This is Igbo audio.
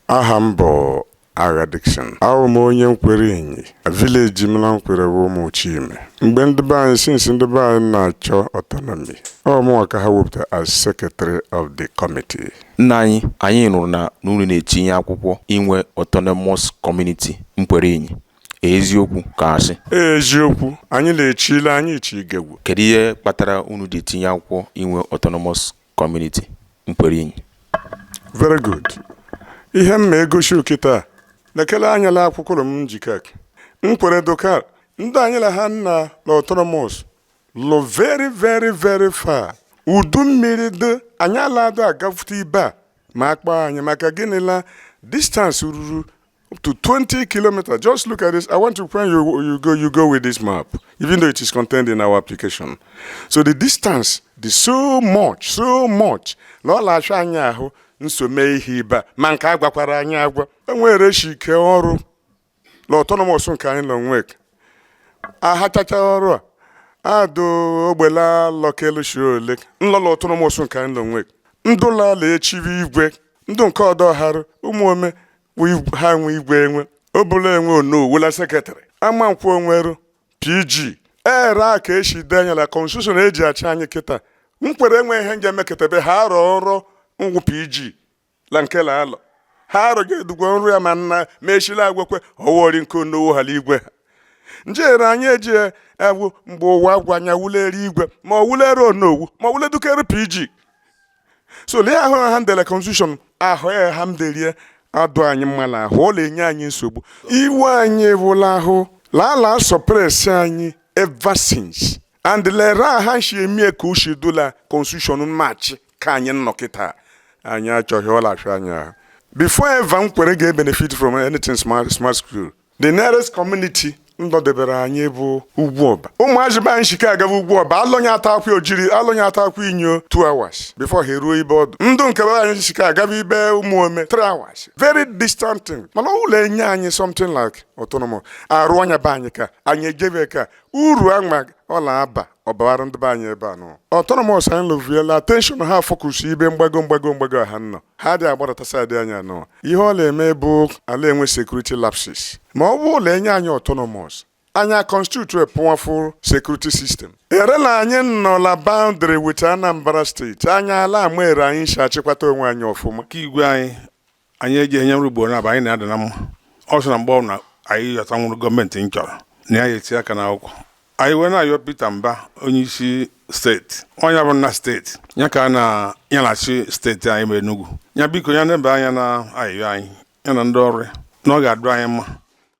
aha m bụ Agha Dickson abụ m onye Nkwere Inyi village m na Nkwere bụ Ụmụ Chime mgbe ndị be anyị since ndị be anyị na-achọ autonomy ọ mụnwa ka ha wepụta as secretary of the committee nna anyị anyị nụrụ na unu na-etinye akwụkwọ inwe autonomous community Nkwere Inyi Eziokwu ka asị. Eziokwu, anyị na-echi ile anyị ichi igegwu. Kedu ihe kpatara unu ji tinye akwụkwọ inwe autonomous community Nkwere Inyi? Very good. Ihe m ma egosi okịta lekere anya la akwụkwọ m nji aka Nkwere doka ndị anyị la ha nnọ la autonomous lụ very very very far udu mmiri dị anyị ala adị agafute ibe a ma akpọ anyị maka gịnị la distance ruru up to 20 kilometers. Just look at this. I want to when you you go you go with this map, even though it is contained in our application. So the distance is so much, so much. N'ọ la-afịa anyị ahụ iso mee ihe ibe ma nke a gwakwara anyị agwa. Enwere shi ike ọrụ na autonomous nke anyị nọ nwek. Ahachacha ọrụ a adụ ogbela lọkelu shi ole nlọla autonomous nke anyị nọ nwek. Ndụla la echiwe igwe ndụ nke ọdọ harụ Ụmụome ha nwe igwe enwe Obune enwe onowu la secretary Amankwọ enweru PG ere a ka esi denye ya na constitution eji achị anyị kịta Nkwere enwe ihe nje meketebe ha arọ ọrụ ngwụ PG la nke la alọ ha arọ ga-edugwo nrụ ya ma nna ma echila agwekwe ọwọri nke onowu ha la igwe ha njere anyị eji ewu mgbe ụwa gwa anya wulere igwe ma ọ wulere onowu ma ọ wule dukere PG so lee ahụ ha ndele constitution ahụ ya ha mderie adụ anyị mma na ahụ ọ na-enye anyị nsogbu iwe anyị wụ la ahụ lala suppress anyị ever since and lere ha shi emie ka o shi dụ la constitution na-achị ka anyị nnọ kịta anyị achọghị ọ la-afịa anyị ahụ before ever Nkwere ga-benefit from anything smart smart school the nearest community nọdebere anyị bụ Ugwuọba ụmụazị be anyị shike agaba Ugwuọba alụnye ata akwụ ojiri alụnye ata Akwụ Inyi 2 hours before ha eruo ibe ọdụ ndụ nke be anyị shike agaba ibe Ụmụome 3 hours very distant thing mana ọ wụ la enye anyị something like autonomous arụnye ya be anyị ka anyị ejebe ka uru anwa ọ la-aba ọ baara ndị be anyị ebe a nọ autonomous anyị lụviela attention ha focus ibe mgbago mgbago mgbago ha nọ ha dị agbadata side anyị anọ ihe ọ na-eme bụ a la-enwe security lapses ma ọ bụ la enye anyị autonomous anyị aconstitute powerful security system erela anyị nọ la boundary with Anambra State anyị ala ama ere anyị si achịkwata onwe anyị ọfụma ka igwe anyị anyị eji enye nrụ ugboro na anyị na-ada na mma ọ sị na mgbe ọ na anyị yọtanwụrụ gọọmenti m chọrọ na ya eti aka n'akwụkwọ anyị wee na-ayọ Peter Mba onye isi steeti onye bụ nna steeti ya ka a na ya na-achị steeti anyị bụ Enugu ya biko ya nebe anya na ayịyọ anyị ya na ndị ọrụ ya na ọ ga-adụ anyị mma